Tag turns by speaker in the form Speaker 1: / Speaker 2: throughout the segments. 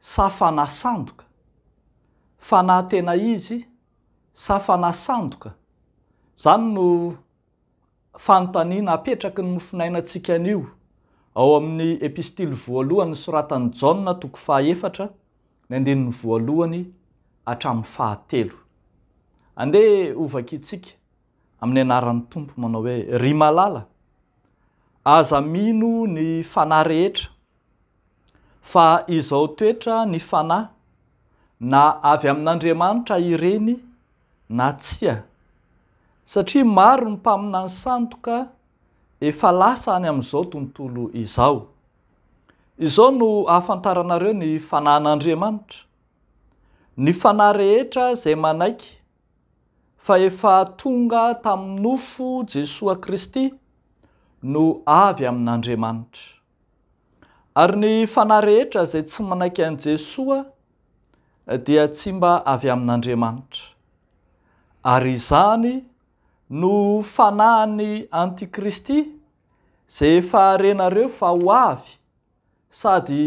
Speaker 1: sa fanahy sandoka? Fanahy tena izy sa fanahy sandoka? Izany no fanontaniana apetraky ny mofonainantsika anio ao amin'ny epistily voalohany nosoratan'i Jaona toko fahaefatra ny andininy voalohany hatramin'ny fahatelo. Andeha hovakintsika amin'ny anaran'ny Tompo manao hoe, Ry malala, aza mino ny fanahy rehetra, Fa izao toetra ny fanahy, na avy amin'Andriamanitra ireny na tsia, satria maro ny mpaminany sandoka efa lasa any amin'izao tontolo izao. Izao no ahafantaranareo ny fanahin'Andriamanitra, Ny fanahy rehetra izay manaiky fa efa tonga tamin'ny nofo Jesoa Kristy no avy amin'Andriamanitra. Ary ny fanahy rehetra izay tsy manaiky an'i Jesoa dia tsy mba avy amin'Andriamanitra. Ary izany no fanahin'ny antikristy izay efa renareo fa ho avy sady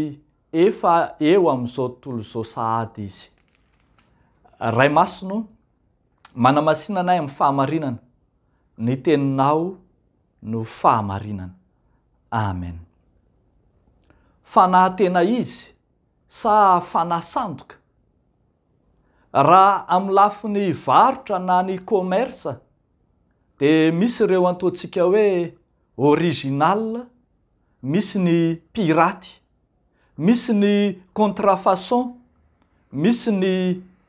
Speaker 1: efa eo amin'izao tontolo izao sahady izy. Ray Masina o, manamasina anay amin'ny fahamarinana ny Teninao. no fahamarinana. Amen. Fanahy tena izy sa fanahy sandoka? Raha amin'ny lafiny varotra na ny commerce dia misy ireo antoantsika hoe original, misy ny piraty, misy ny contrefaçon, misy ny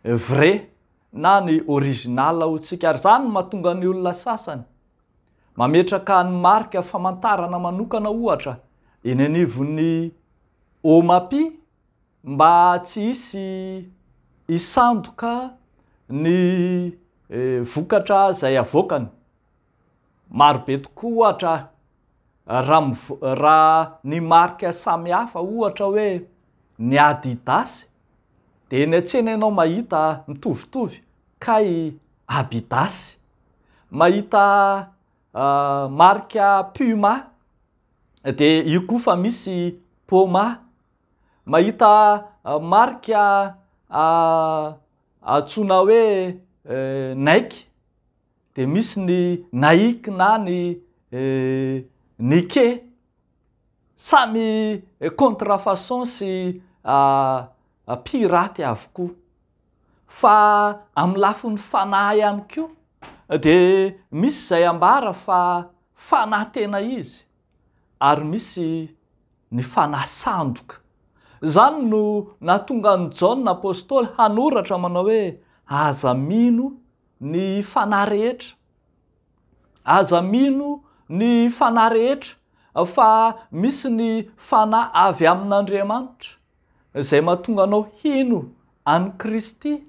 Speaker 1: vrai na ny original hotsika ary izany no mahatonga ny olona sasany Mametraka ny marika famantarana manokana ohatra eny anivon'ny OMAPI mba tsy hisy hisandoka ny vokatra izay avoakany. Marobe tokoa ohatra raha ny marika samihafa ohatra hoe ny Adidas dia eny an-tsena ianao mahita mitovitovy. Kay Abidasy mahita marika Puma de io koa fa misy Poma, mahita marika antsoina hoe Nike de misy ny Nike na ny Nike, samy contre façon sy pirates avokoa. Fa amin'ny lafin'ny fanahy ihany koa dia misy izay ambara fa fanahy tena izy ary misy ny fanahy sandoka. Izany no nahatonga an'i Jaona apostoly hanoratra manao hoe aza mino ny fanahy rehetra. Aza mino ny fanahy rehetra fa misy ny fanahy avy amin'Andriamanitra. izay mahatonga anao hino an'i Kristy.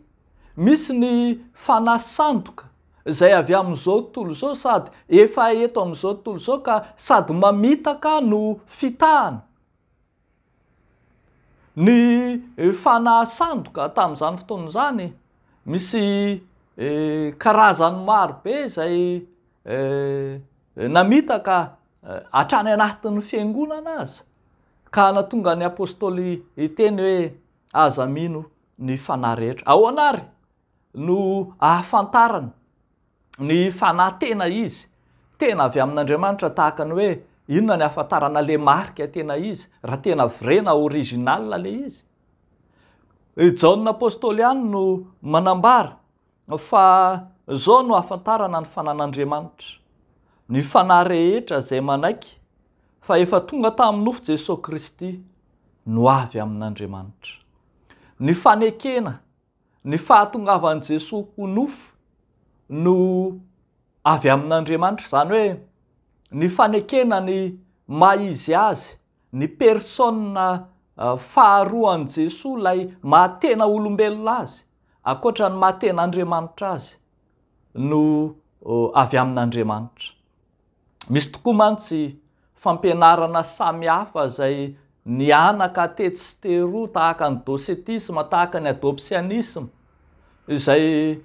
Speaker 1: Misy ny fanahy sandoka izay avy amin'izao tontolo izao sady efa eto amin'izao tontolo izao ka sady mamitaka no fitahana. Ny fanahy sandoka tamin'izany fotoana izany, misy karazany maro be izay namitaka Hatrany anatin'ny fiangonana aza, ka hanatonga ny apostoly hiteny hoe, Aza mino ny fanahy rehetra. Ahoana àry no ahafantarana ny fanahy tena izy, tena avy amin'Andriamanitra tahaka ny hoe inona ny ahafantarana ilay marika tena izy, raha tena vrai na original ilay izy? I Jaona apostoly ihany no manambara. Fa izao no ahafantarana ny fanan'Andriamanitra, ny fanahy rehetra izay manaiky fa efa tonga tamin'ny nofo Jesoa Kristy no avy amin'Andriamanitra. Ny fanekena ny fahatongavan'i Jesoa ho nofo no avy amin'Andriamanitra, izany hoe ny fanekena ny maha izy azy, ny persona faharoan'i Jesoa ilay maha tena olombelona azy. ankoatra ny maha tena Andriamanitra azy no avy amin'Andriamanitra. Misy tokoa mantsy fampianarana samy hafa izay nihanaka tetsy sy teroa tahaka ny docetisme, tahaka ny adoptionisme, izay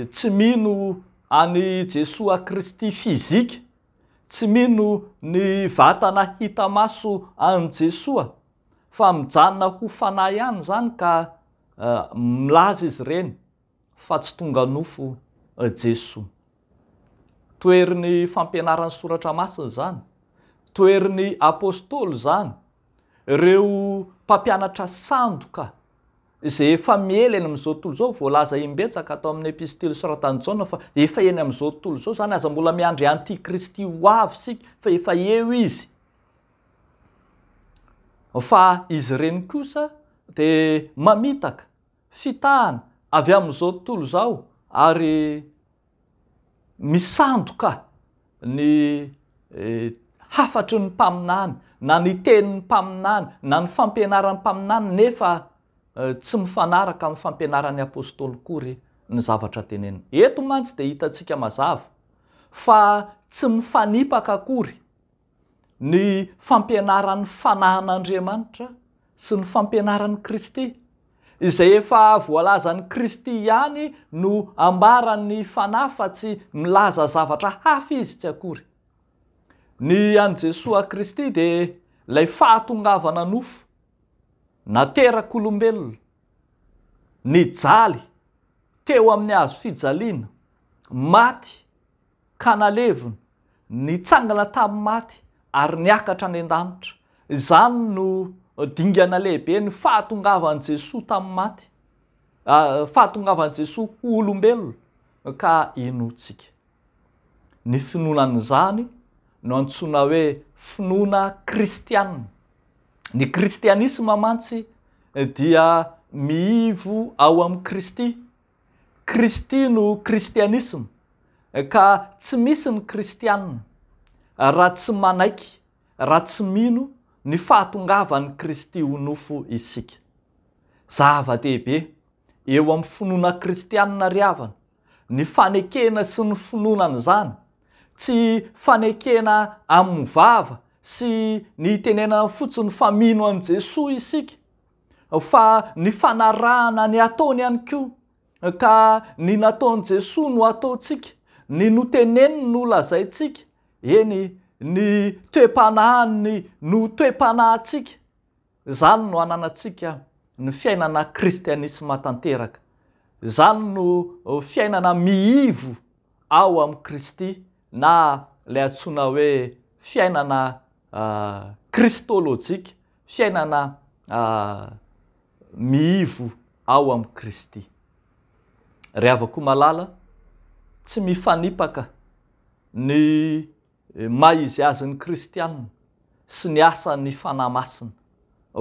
Speaker 1: tsy mino an'i Jesoa Kristy fizika, tsy mino ny vatana hita maso an'i Jesoa, fa mijanona ho fanahy ihany izany ka Milaza izy ireny fa tsy tonga nofo Jesoa. Toherin'ny fampianaran'ny Soratra Masina izany. Toherin'ny Apostoly izany. Ireo mpampianatra sandoka izay efa miely eny amin'izao tontolo izao, voalaza imbetsaka tao amin'ny Epistily soratan'i Jaona fa efa eny amin'izao tontolo izao izany, aza mbola miandry Antikristy ho avy isika fa efa eo izy. Fa izy ireny kosa dia mamitaka fitahana avy amin'izao tontolo izao ary misandoka ny hafatry ny mpaminany na ny tenin'ny mpaminany na ny fampianaran'ny mpaminany nefa tsy mifanaraka amin'ny fampianaran'ny Apostoly akory ny zavatra teneniny. Eto mantsy dia hitantsika mazava fa tsy mifanipaka akory. ny fampianaran'ny fanahin'Andriamanitra sy ny fampianaran'i Kristy, izay efa voalazan'i Kristy ihany no ambaran'ny Fanahy fa tsy milaza zavatra hafa izy tsy akory. Ny an'i Jesoa Kristy dia ilay fahatongavana nofo, naterak'olombelona, nijaly teo amin'ny hazo fijaliana, maty ka naleviny, nitsangana tamin'ny maty ary niakatra any an-danitra. Izany no dingana lehiben'ny fahatongavan'i Jesoa tamin'ny maty, fahatongavan'i Jesoa ho olombelona ka inoantsika. Ny finoana an'izany no antsoina hoe finoana kristiana. Ny kristianisma mantsy dia miivo ao amin'i Kristy Kristy no kristianisma ka tsy misy ny kristianina raha tsy manaiky, raha tsy mino ny fahatongavan'i Kristy ho nofo isika. Zava-dehibe eo amin'ny finoana kristianina ry havana ny fanekena sy ny finoana an'izany, tsy fanekena amin'ny vava sy ny itenenana fotsiny fa mino an'i Jesoa isika, fa ny fanarahana ny ataony ihany koa, ka ny nataon'i Jesoa no ataontsika, ny noteneniny no lazaintsika, eny, ny toe-panahiny no toe-panahintsika, izany no ananantsika ny fiainana kristianisma tanteraka, izany no fiainana miivo ao amin'i Kristy na ilay antsoina hoe fiainana kristolojika, Fiainana miivo ao amin'i Kristy. Ry havako malala, tsy mifanipaka ny maha izy azy ny kristiana sy ny asan'ny Fanahy Masina,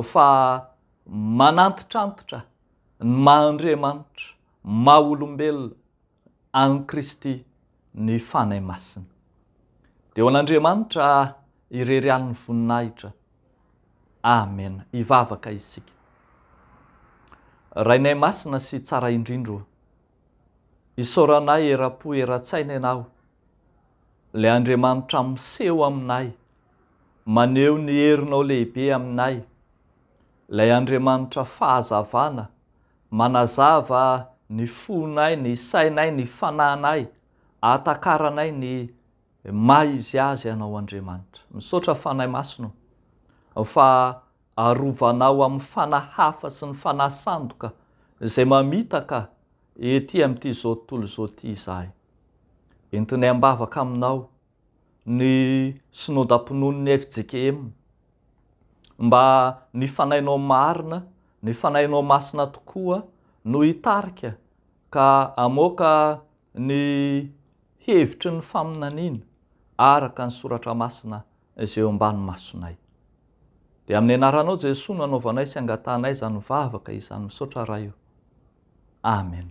Speaker 1: fa manantitrantitra ny maha Andriamanitra, maha olombelona, an'i Kristy ny Fanahy Masina. Dia ho an'Andriamanitra irery ihany ny voninahitra. Amena. Hivavaka isika. Rainay Masina sy Tsara indrindra o, isaoranay eram-po eran-tsaina Ianao, ilay Andriamanitra miseho aminay, maneho ny herinao lehibe aminay, ilay Andriamanitra fahazavana Manazava ny fonay, ny sainay, ny fananay, ahatakaranay ny maha izy azy anao Andriamanitra. Misaotra Fanahy Masina o, fa arovanao amin'ny fanahy hafa sy ny fanahy sandoka izay mamitaka ety amin'ity izao tontolo izao ity izahay. Entinay am-bavaka aminao ny Synodam-pinoan'ny fjkm. Mba ny fanahinao marina, ny fanahinao masina tokoa no hitarika ka hamoaka ny hevitry ny faminaniana araka ny Soratra Masina izay eo ambany masonay. Dia amin'ny Anaranao Jesoa no anaovanay sy angatahanay izany vavaka izany. Misaotra Ray o. Amen.